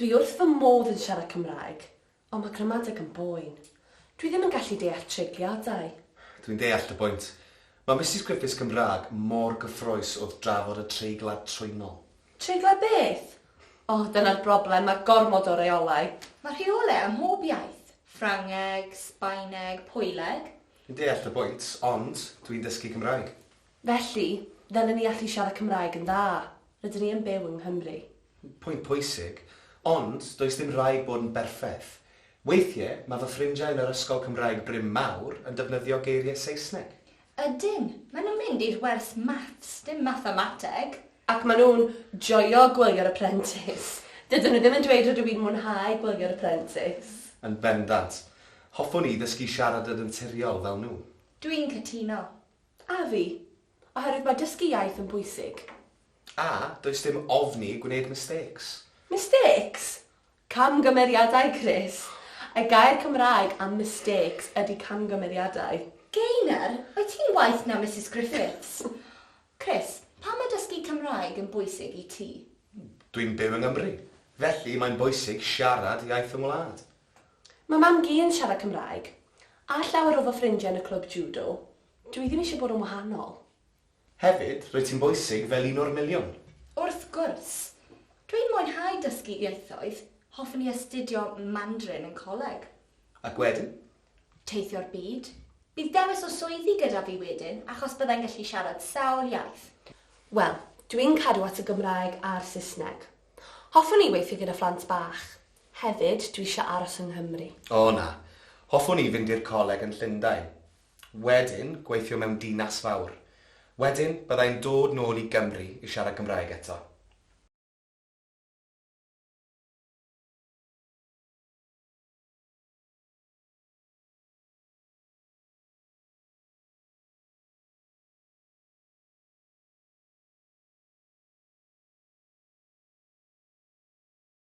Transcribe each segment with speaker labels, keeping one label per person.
Speaker 1: Dwi wrth fy modd yn siarad Cymraeg, Ond mae gramadeg yn boen. Dwi ddim yn gallu deall treigliadau. Dwi'n deall
Speaker 2: dy bwynt. Mae Misus Griffiths Gymraeg mor gyffrous wrth drafod y treiglad trwynol. Treiglad beth?
Speaker 1: O, dyna'r broblem, mae gormod o reolau. Mae rheolau ym
Speaker 3: mhob iaith. Ffrangeg, Sbaeneg, Pwyleg. Dwi'n deall dy bwynt,
Speaker 2: ond dwi'n dysgu Cymraeg. Felly,
Speaker 1: ddylen ni allu siarad Cymraeg yn dda. Rydyn ni yn byw yng Nghymru. Pwynt pwysig.
Speaker 2: Ond, does dim rhaid bod yn berffaith. Weithiau, mae fy ffrindiau yn yr ysgol Cymraeg Bryn Mawr yn defnyddio geiriau Saesneg. Ydyn.
Speaker 3: Maen nhw'n mynd i'r wers maths, dim mathemateg. Ac maen nhw'n
Speaker 1: joio Gwylio'r Apprentice. Dydyn nhw ddim yn dweud rydw i'n mwynhau Gwylio'r Apprentice. Yn bendant.
Speaker 2: Hoffwn i ddysgu siarad yn naturiol fel nhw. Dwi'n cytuno.
Speaker 3: A fi.
Speaker 1: Oherwydd mae dysgu iaith yn bwysig. A
Speaker 2: does dim ofn i gwneud mistakes. Mistakes?
Speaker 1: Camgymeriadau, Chris! Y gair Cymraeg am mistakes ydy camgymeriadau. Gaynor,
Speaker 3: wyt ti'n waeth na Misus Griffiths! Chris, pam mae dysgu Cymraeg yn bwysig i ti? Dwi'n byw yng
Speaker 2: Nghymru, felly mae'n bwysig siarad iaith fy ngwlad. Mae mam-gu
Speaker 1: yn siarad Cymraeg, a llawer o fy ffrindiau yn y clwb jwdo. Dw i ddim eisiau bod yn wahanol. Hefyd,
Speaker 2: rwyt ti'n bwysig fel un o'r miliwn. Wrth gwrs!
Speaker 3: Dw i'n mwynhau dysgu ieithoedd, hoffwn i astudio Mandarin yn coleg. Ac wedyn?
Speaker 2: Teithio'r
Speaker 3: byd. Bydd dewis o swyddi gyda fi wedyn achos byddai'n gallu siarad sawl iaith. Wel,
Speaker 1: dw i'n cadw at y Gymraeg a'r Saesneg. Hoffwn i weithio gyda phlant bach. Hefyd, dwi isio aros yng Nghymru. O na.
Speaker 2: Hoffwn i fynd i'r coleg yn Llundain. Wedyn, gweithio mewn dinas fawr. Wedyn, bydda i'n dod nôl i Gymru i siarad Cymraeg eto.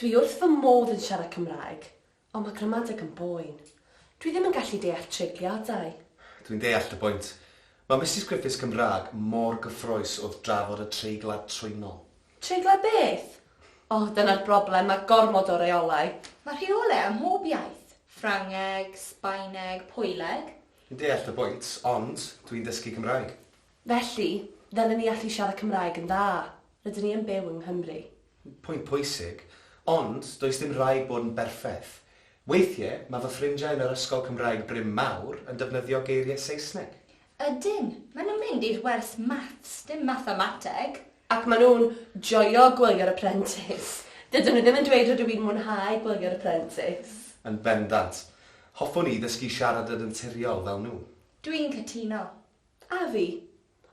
Speaker 1: Dwi wrth fy modd yn siarad Cymraeg, ond mae gramadeg yn boen. Dwi ddim yn gallu deall treigliadau. Dwi'n deall dy
Speaker 2: bwynt. Mae Misus Griffiths Gymraeg mor gyffrous wrth drafod y treiglad trwynol. Treiglad beth?
Speaker 1: O, dyna'r broblem, mae gormod o reolau. Mae rheolau ym
Speaker 3: mhob iaith, Ffrangeg, Sbaeneg, Pwyleg. Dwi'n deall dy
Speaker 2: bwynt, ond dwi'n dysgu Cymraeg. Felly,
Speaker 1: ddylen ni allu siarad Cymraeg yn dda. Rydyn ni yn byw yng Nghymru. Pwynt pwysig.
Speaker 2: Ond, does dim rhaid bod yn berffaith. Weithie, mae fy ffrindiau yn yr ysgol Cymraeg Bryn Mawr yn defnyddio geiriau Saesneg. Ydyn.
Speaker 3: Maen nhw'n mynd i'r wers maths, dim mathemateg. Ac maen nhw'n
Speaker 1: joio Gwylio'r Apprentice. Dydyn nhw ddim yn dweud rydw i'n mwynhau Gwylio'r Apprentice. Yn bendant.
Speaker 2: Hoffwn i ddysgu siarad yn naturiol fel nhw. Dwi'n cytuno.
Speaker 3: A fi.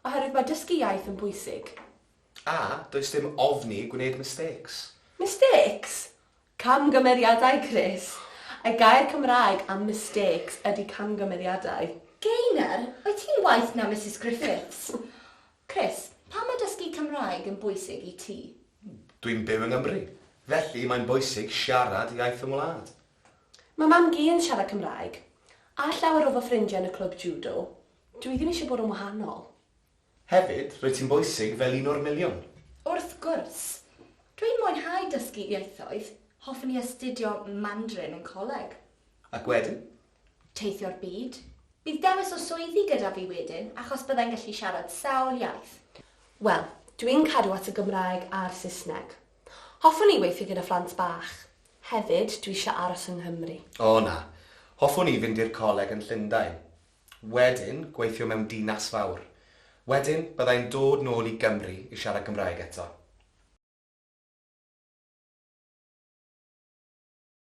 Speaker 1: Oherwydd mae dysgu iaith yn bwysig. A
Speaker 2: does dim ofn i gwneud mistakes. Mistakes?
Speaker 1: Camgymeriadau, Chris! Y gair Cymraeg am mistakes ydy camgymeriadau. Gaynor,
Speaker 3: wyt ti'n waeth na Misus Griffiths! Chris, pam mae dysgu Cymraeg yn bwysig i ti? Dwi'n byw
Speaker 2: yng Nghymru, felly mae'n bwysig siarad
Speaker 1: iaith
Speaker 2: fy ngwlad. Mae mam-gu
Speaker 1: yn
Speaker 2: siarad
Speaker 1: Cymraeg, a llawer o fy ffrindiau yn y clwb jwdo. Dw i ddim eisiau bod yn wahanol. Hefyd,
Speaker 2: rwyt ti'n bwysig fel un o'r miliwn. Wrth gwrs!
Speaker 3: Dw i'n mwynhau dysgu ieithoedd, hoffwn i astudio Mandarin yn coleg. Ac wedyn?
Speaker 2: Teithio'r
Speaker 3: byd. Bydd dewis o swyddi gyda fi wedyn achos bydda i'n gallu siarad sawl iaith. Wel,
Speaker 1: dw i'n cadw at y Gymraeg a'r Saesneg. Hoffwn i weithio gyda phlant bach. Hefyd, dwi isio aros yng Nghymru. O na.
Speaker 2: Hoffwn i fynd i'r coleg yn Llundain. Wedyn, gweithio mewn dinas fawr. Wedyn, bydda i'n dod nôl i Gymru i siarad Cymraeg eto.